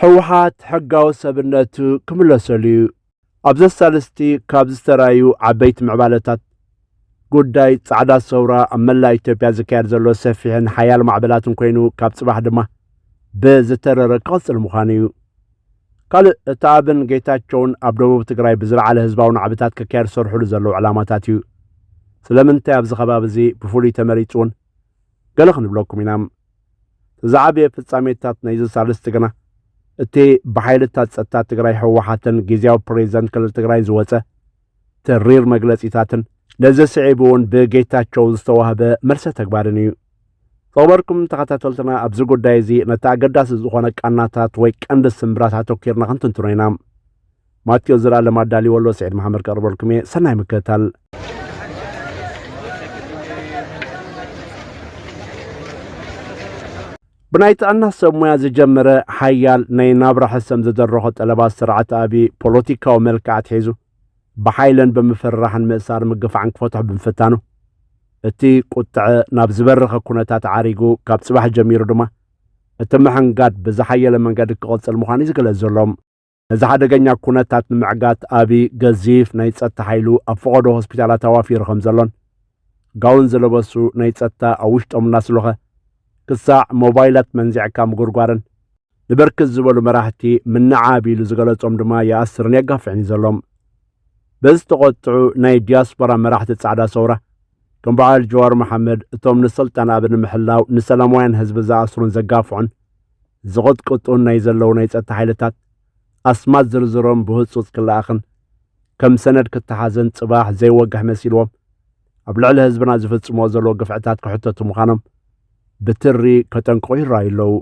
ህወሓት ሕጋዊ ሰብነቱ ክምለሰሉ እዩ። ኣብ ዘሳልስቲ ካብ ዝተራዩ ዓበይቲ ምዕባለታት ጉዳይ ጻዕዳ ሰውራ ኣብ መላእ ኢትዮጵያ ዝካየድ ዘሎ ሰፊሕን ሓያል ማዕበላትን ኮይኑ ካብ ጽባሕ ድማ ብዝተረረ ክቕጽል ምዃኑ እዩ። ካልእ እቲ ኣብን ጌታቸውን ኣብ ደቡብ ትግራይ ብዝለዓለ ህዝባዊ ናዕብታት ክካየድ ዝሰርሕሉ ዘለዉ ዕላማታት እዩ ስለምንታይ ኣብዚ ከባቢ እዚ ብፍሉይ ተመሪፁ እውን ገለ ክንብለኩም ኢና እቲ ዝዓበየ ፍጻሜታት ናይዚ ሳልስቲ ግና እቲ ብሓይልታት ጸጥታ ትግራይ ህወሓትን ግዜያዊ ፕሬዚደንት ክልል ትግራይ ዝወጸ ተሪር መግለጺታትን ነዚ ስዒቡ እውን ብጌታቸው ዝተዋህበ መልሰ ተግባርን እዩ። ዝኸበርኩም ተኸታተልትና ኣብዚ ጉዳይ እዚ ነቲ ኣገዳሲ ዝኾነ ቃናታት ወይ ቀንዲ ስምብራት ኣተኪርና ክንትንትኖ ኢና ማቴዎስ ዘልኣለም ኣዳልወሎ ስዒድ መሓመድ ከቕርበልኩም እየ ሰናይ ምከታል ብናይ ጥዕና ሰብ ሙያ ዝጀመረ ሓያል ናይ ናብራ ሕሰም ዝደረኾ ጠለባት ስርዓት ኣብዪ ፖለቲካዊ መልክዕ ኣትሒዙ ብሓይለን ብምፍርራሕን ምእሳር ምግፋዕን ክፈትሖ ብምፍታኑ እቲ ቁጥዐ ናብ ዝበረኸ ኩነታት ዓሪጉ ካብ ፅባሕ ጀሚሩ ድማ እቲ ምሕንጋድ ብዝሓየለ መንገዲ ክቕፅል ምዃኑ እዩ ዝገለፅ ዘሎም ነዚ ሓደገኛ ኩነታት ንምዕጋት ኣብዪ ገዚፍ ናይ ጸጥታ ሓይሉ ኣብ ፈቐዶ ሆስፒታላት ኣዋፊሩ ከም ዘሎን ጋውን ዝለበሱ ናይ ጸጥታ ኣብ ውሽጦም እናስሎኸ ክሳዕ ሞባይላት መንዚዕካ ምጉርጓርን ንብርክት ዝበሉ መራሕቲ ምንዓብ ኢሉ ዝገለጾም ድማ ይኣስርን የጋፍዕን እዩ ዘሎም በዚ ተቖጥዑ ናይ ዲያስፖራ መራሕቲ ጻዕዳ ሰውራ ከም በዓል ጀዋር መሓመድ እቶም ንስልጣን ኣብ ንምሕላው ንሰላማውያን ህዝቢ ዝኣስሩን ዘጋፍዑን ዝቕጥቅጡን ናይ ዘለዉ ናይ ጸጥታ ሓይልታት ኣስማት ዝርዝሮም ብህጹጽ ክለኣኽን ከም ሰነድ ክተሓዘን ጽባሕ ዘይወግሕ መሲልዎም ኣብ ልዕሊ ህዝብና ዝፍጽምዎ ዘለዎ ግፍዕታት ክሕተቱ ምዃኖም ብትሪ ከጠንቅቑ ይረኣዩ ኣለዉ።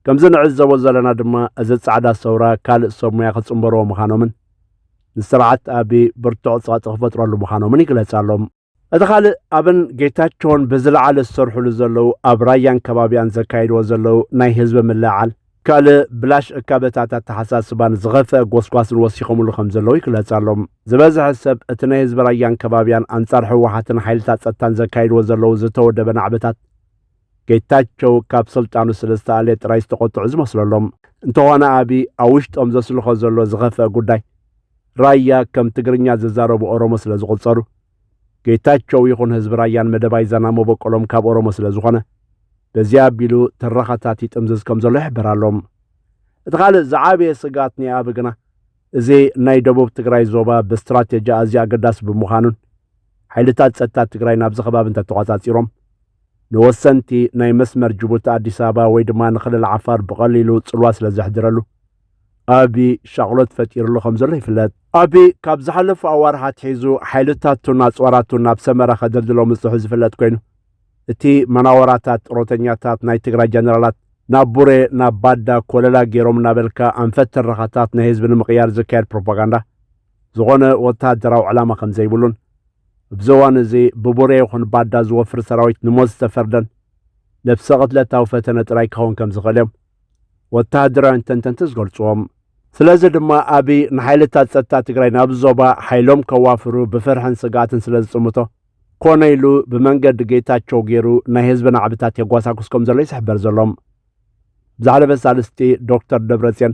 ከምዚ ንዕዘቦ ዘለና ድማ እዚ ጻዕዳ ሰውራ ካልእ ሰብ ሙያ ክጽምበርዎ ምዃኖምን ንስርዓት ኣቢ ብርቱዕ ጸቕጢ ክፈጥረሉ ምዃኖምን ይግለጽ ኣሎ። እቲ ካልእ ኣብን ጌታቸውን ብዝለዓለ ዝሰርሕሉ ዘለዉ ኣብ ራያን ከባቢያን ዘካይድዎ ዘለዉ ናይ ህዝቢ ምልዕዓል ካልእ ብላሽ እካበታት ኣተሓሳስባን ዝኸፍአ ጎስጓስን ወሲኸምሉ ከም ዘለዉ ይግለጽ ኣሎ። ዝበዝሐ ሰብ እቲ ናይ ህዝቢ ራያን ከባቢያን ኣንጻር ህወሓትን ሓይልታት ጸጥታን ዘካይድዎ ዘለዉ ዝተወደበ ናዕብታት ጌታቸው ካብ ስልጣኑ ስለ ዝተኣልየ ጥራይ ዝተቖጥዑ ዝመስለሎም። እንተኾነ ኣብይ ኣብ ውሽጦም ዘስልኾ ዘሎ ዝኸፍአ ጉዳይ ራያ ከም ትግርኛ ዝዛረቡ ኦሮሞ ስለ ዝቑጸሩ ጌታቸው ይኹን ህዝቢ ራያን መደባይ ዛና መበቆሎም ካብ ኦሮሞ ስለ ዝኾነ በዚ ኣቢሉ ትረኻታት ይጥምዝዝ ከም ዘሎ ይሕበር ኣሎ። እቲ ካልእ ዝዓበየ ስግኣት ናይ ኣብይ ግና እዚ ናይ ደቡብ ትግራይ ዞባ ብስትራቴጂ ኣዝዩ ኣገዳሲ ብምዃኑን ሓይልታት ጸጥታ ትግራይ ናብዚ ከባቢ እንተተቖጻጺሮም ንወሰንቲ ናይ መስመር ጅቡቲ ኣዲስ ኣበባ ወይ ድማ ንክልል ዓፋር ብቐሊሉ ጽልዋ ስለ ዘሕድረሉ ኣቢ ሻቕሎት ፈጢሩሉ ከም ዘሎ ይፍለጥ። ኣቢ ካብ ዝሓለፉ ኣዋርሕ ኣትሒዙ ሓይልታቱን ኣጽዋራቱን ናብ ሰመራ ከደልድሎ ምጽሑ ዝፍለጥ ኮይኑ እቲ መናወራታት ጥሮተኛታት ናይ ትግራይ ጀነራላት ናብ ቡሬ ናብ ባዳ ኮለላ ገይሮም እናበልካ ኣንፈት ትረኻታት ናይ ህዝቢ ንምቕያር ዝካየድ ፕሮፓጋንዳ ዝኾነ ወተሃደራዊ ዕላማ ከም ዘይብሉን እብዚ እዋን እዚ ብቡሬ ይኹን ባዳ ዝወፍር ሰራዊት ንሞት ዝተፈርደን ነብሰ ቅትለታዊ ፈተነ ጥራይ ክኸውን ከም ዝኽእል እዮም ወተሃደራውያን ተንተንቲ ዝገልጹዎ። ስለዚ ድማ ኣብይ ንሓይልታት ጸጥታ ትግራይ ናብዚ ዞባ ሓይሎም ከዋፍሩ ብፍርሕን ስግኣትን ስለ ዝጽምቶ ኮነ ኢሉ ብመንገዲ ጌታቸው ገይሩ ናይ ህዝቢ ናዕብታት የጓሳጉስ ከም ዘሎ እዩ ዝሕበር ዘሎ። ብዛዕለበት ሳልስቲ ዶክተር ደብረጽዮን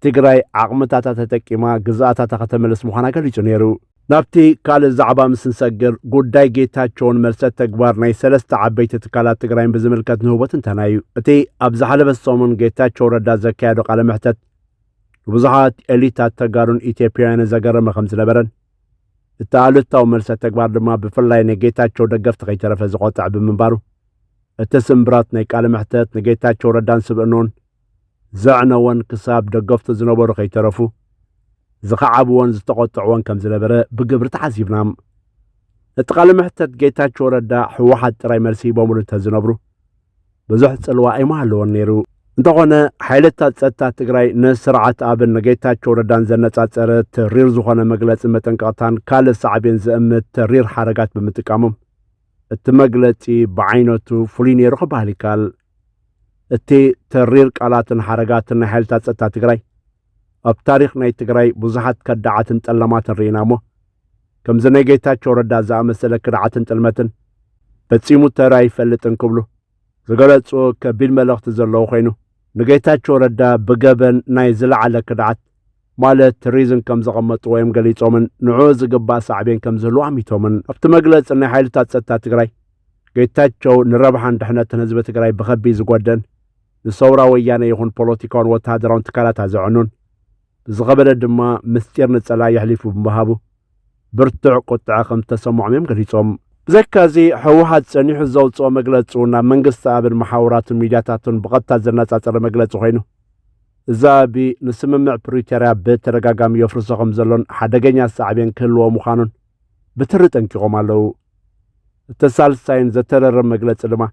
ትግራይ ዓቕምታታ ተጠቂማ ግዝኣታታ ከተመልስ ምዃና ገሊጹ ነይሩ። ናብቲ ካልእ ዛዕባ ምስ ንሰግር ጉዳይ ጌታቸውን መልሰ ተግባር ናይ ሰለስተ ዓበይቲ ትካላት ትግራይን ብዝምልከት ንህቦ ትንተና እዩ። እቲ ኣብ ዝሓለፈ ሰሙን ጌታቸው ረዳ ዘካየዶ ቃለ መሕተት ንብዙሓት ኤሊታት ተጋሩን ኢትዮጵያውያንን ዘገረመ ከም ዝነበረን እቲ ኣሉታዊ መልሰ ተግባር ድማ ብፍላይ ንጌታቸው ደገፍቲ ከይተረፈ ዝቆጥዐ ብምንባሩ እቲ ስምብራት ናይ ቃለ መሕተት ንጌታቸው ረዳን ስብእንኡን ዘዕነዎን ክሳብ ደገፍቱ ዝነበሩ ከይተረፉ ዝኸዓብዎን ዝተቖጥዕዎን ከም ዝነበረ ብግብሪ ተዓዚብና። እቲ ቃለ መሕተት ጌታቸው ረዳ ህወሓት ጥራይ መልሲ ሂቦምሉ እንተዝነብሩ ብዙሕ ጽልዋ ኣይምሃለዎን ነይሩ። እንተኾነ ሓይልታት ጸጥታ ትግራይ ንስርዓት ኣብን ንጌታቸው ረዳን ዘነጻጸረ ተሪር ዝኾነ መግለጺ መጠንቀቕታን ካልእ ሳዕቤን ዘእምት ተሪር ሓረጋት ብምጥቃሞም እቲ መግለጺ ብዓይነቱ ፍሉይ ነይሩ ክበሃል ይከኣል። እቲ ተሪር ቃላትን ሓረጋትን ናይ ሓይልታት ጸጥታ ትግራይ ኣብ ታሪኽ ናይ ትግራይ ብዙሓት ከዳዓትን ጠለማትን ርኢና እሞ ከምዚ ናይ ጌታቸው ረዳ ዝኣመሰለ ክድዓትን ጥልመትን ፈጺሙ ተራ ኣይፈልጥን ክብሉ ዝገለጹ ከቢድ መልእኽቲ ዘለዎ ኮይኑ ንጌታቸው ረዳ ብገበን ናይ ዝለዓለ ክድዓት ማለት ሪዝን ከም ዘቐመጥዎ እዮም ገሊፆምን ንዕኡ ዝግባእ ሳዕቤን ከም ዝህልዎ ኣሚቶምን። ኣብቲ መግለፂ ናይ ሓይልታት ፀጥታ ትግራይ ጌታቸው ንረብሓን ድሕነትን ህዝቢ ትግራይ ብኸቢድ ዝጎድእን ንሰውራ ወያነ ይኹን ፖለቲካውን ወተሃደራውን ትካላታ ዘዕኑን ብዝኸበደ ድማ ምስጢር ንፀላኢ የሕሊፉ ብምሃቡ ብርቱዕ ቁጥዐ ከም ዝተሰምዖም እዮም ገሊፆም። ብዘካ እዚ ህወሓት ፀኒሑ ዘውፅኦ መግለፂ እውን ናብ መንግስቲ ኣብን መሓውራቱን ሚድያታቱን ብቐጥታ ዘነፃፀረ መግለፂ ኮይኑ እዚ ኣቢ ንስምምዕ ፕሪቶርያ ብተደጋጋሚ የፍርሶ ከምዘሎን ሓደገኛ ሳዕቤን ክህልዎ ምዃኑን ብትሪ ጠንቂቖም ኣለዉ። እቲ ሳልሳይን ዘተረርም መግለጺ ድማ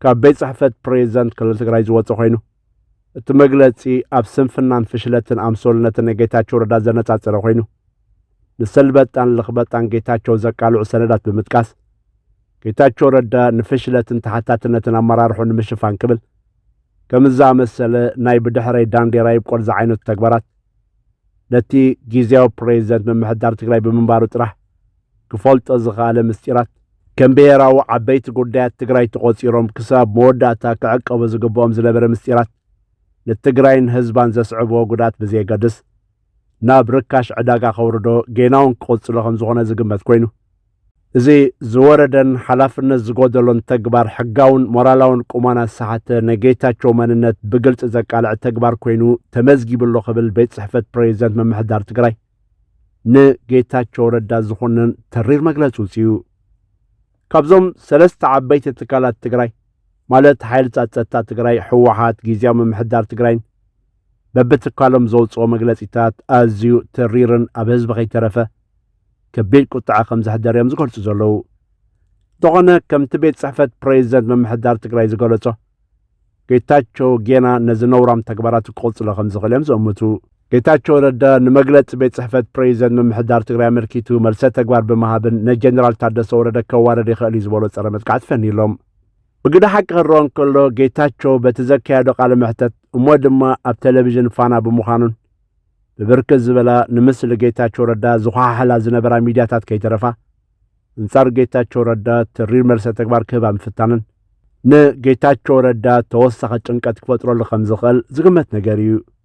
ካብ ቤት ጽሕፈት ፕሬዚደንት ክልል ትግራይ ዝወፀ ኮይኑ እቲ መግለፂ ኣብ ስንፍናን ፍሽለትን ኣምሶልነትን ናይ ጌታቸው ረዳ ዘነፃፀረ ኮይኑ ንሰልበጣን ልኽበጣን ጌታቸው ዘቃልዑ ሰነዳት ብምጥቃስ ጌታቸው ረዳ ንፍሽለትን ተሓታትነትን ኣመራርሑ ንምሽፋን ክብል ከምዚ ዝኣመሰለ ናይ ብድሕረይ ዳንዴራ ይብቆል ዝዓይነቱ ተግባራት ነቲ ጊዜያዊ ፕሬዚደንት ምምሕዳር ትግራይ ብምንባሩ ጥራሕ ክፈልጦ ዝኸኣለ ምስጢራት ከም ብሄራዊ ዓበይቲ ጉዳያት ትግራይ ተቖፂሮም ክሳብ መወዳእታ ክዕቀቡ ዝግብኦም ዝነበረ ምስጢራት ንትግራይን ህዝባን ዘስዕብዎ ጉድኣት ብዘየገድስ ናብ ርካሽ ዕዳጋ ከውርዶ ጌናውን ክቕጽሎ ከምዝኾነ ዝግመት ኮይኑ፣ እዚ ዝወረደን ሓላፍነት ዝጎደሎን ተግባር ሕጋውን ሞራላውን ቁማና ዝሰሓተ ናይ ጌታቸው መንነት ብግልጺ ዘቃልዕ ተግባር ኮይኑ ተመዝጊቡ ኣሎ ክብል ቤት ጽሕፈት ፕሬዚደንት ምምሕዳር ትግራይ ንጌታቸው ረዳ ዝኾነን ተሪር መግለጺ ውጽኡ። ካብዞም ሰለስተ ዓበይቲ ትካላት ትግራይ ማለት ሓይልታት ጸጥታ ትግራይ፣ ህወሓት፣ ጊዜያዊ ምምሕዳር ትግራይን በብትካሎም ዘውጽኦ መግለጺታት ኣዝዩ ተሪርን ኣብ ህዝቢ ከይተረፈ ከቢድ ቁጥዐ ከም ዘሕደረ እዮም ዝገልጹ ዘለዉ። እንተኾነ ከምቲ ቤት ጽሕፈት ፕሬዚደንት ምምሕዳር ትግራይ ዝገለጾ ጌታቸው ጌና ነዚ ነውራም ተግባራቱ ክቕጽሎ ከም ዝኽእል እዮም ዝእምቱ። ጌታቸው ረዳ ንመግለጺ ቤት ጽሕፈት ፕሬዚደንት ምምሕዳር ትግራይ ኣመልኪቱ መልሰ ተግባር ብምሃብን ንጀነራል ታደሰ ወረደ ከዋርድ ይኽእል እዩ ዝበሎ ጸረ መጥቃዕቲ ፈንዩሎም። ብግደ ሓቂ ክረኦ እንከሎ ጌታቸው በቲ ዘካየዶ ቃለ መሕተት እሞ ድማ ኣብ ቴሌቪዥን ፋና ብምዃኑን ብብርክት ዝበላ ንምስሊ ጌታቸው ረዳ ዝኳሓሕላ ዝነበራ ሚዲያታት ከይተረፋ እንጻር ጌታቸው ረዳ ትሪር መልሰ ተግባር ክህባ ምፍታንን ንጌታቸው ረዳ ተወሳኺ ጭንቀት ክፈጥረሉ ከም ዝኽእል ዝግመት ነገር እዩ።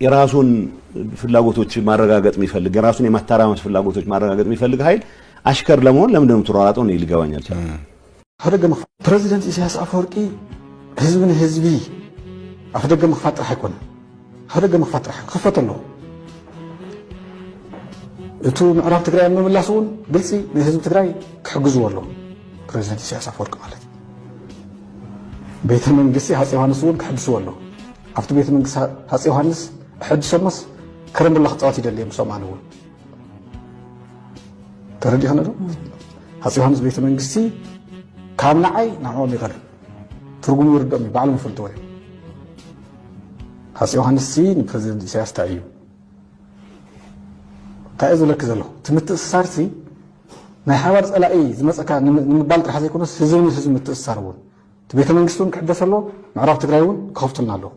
የራሱን ፍላጎቶች ማረጋገጥ የሚፈልግ የራሱን የማተራመስ ፍላጎቶች ማረጋገጥ የሚፈልግ ኃይል አሽከር ለመሆን ለምንድን ነው የምትሯሯጠው? እኔ ሊገባኝ አልቻለም። ኣፍደገ ምክፋት ፕረዚደንት ኢሳያስ ኣፈወርቂ ህዝቢ ንህዝቢ ኣፍደገ ምክፋት ጥራሕ ኣይኮነ ኣፍደገ ምክፋት ጥራሕ ክኸፈት ኣለዎ እቱ ምዕራብ ትግራይ ምምላስ እውን ግልፂ ንህዝቢ ትግራይ ክሕግዝዎ ኣለዎ ፕረዚደንት ኢሳያስ ኣፈወርቂ ማለት ቤተ መንግስቲ ሃፀ ዮሃንስ እውን ክሕድስዎ ኣለዎ ኣብቲ ቤተ መንግስቲ ሃፀይ ዮሃንስ እሐድሶሞስ ከረምቡላ ክፃወት ይደልየ ምሶም ኣነ እውን ተረዲእኸነ ዶ ሃፀይ ዮሃንስ ቤተ መንግስቲ ካብ ንዓይ ንዕኦም ይቐርብ ትርጉሙ ይርድኦም እዩ ባዕሎም ይፈልጥዎ እዮም ሃፀይ ዮሃንስ ሲ ንፕረዚደንት ኢሳያስ እንታይ እዩ እንታይ እዩ ዝብለኪ ዘለኹ እቲ ምትእስሳር ሲ ናይ ሓባር ፀላኢ ዝመፀካ ንምባል ጥራሕ ዘይኮነስ ህዝቢ ንህዝቢ ምትእስሳር እውን እቲ ቤተ መንግስቲ እውን ክሕደስ ኣለዎ፣ ምዕራብ ትግራይ እውን ክኸፍቱልና ኣለዎም።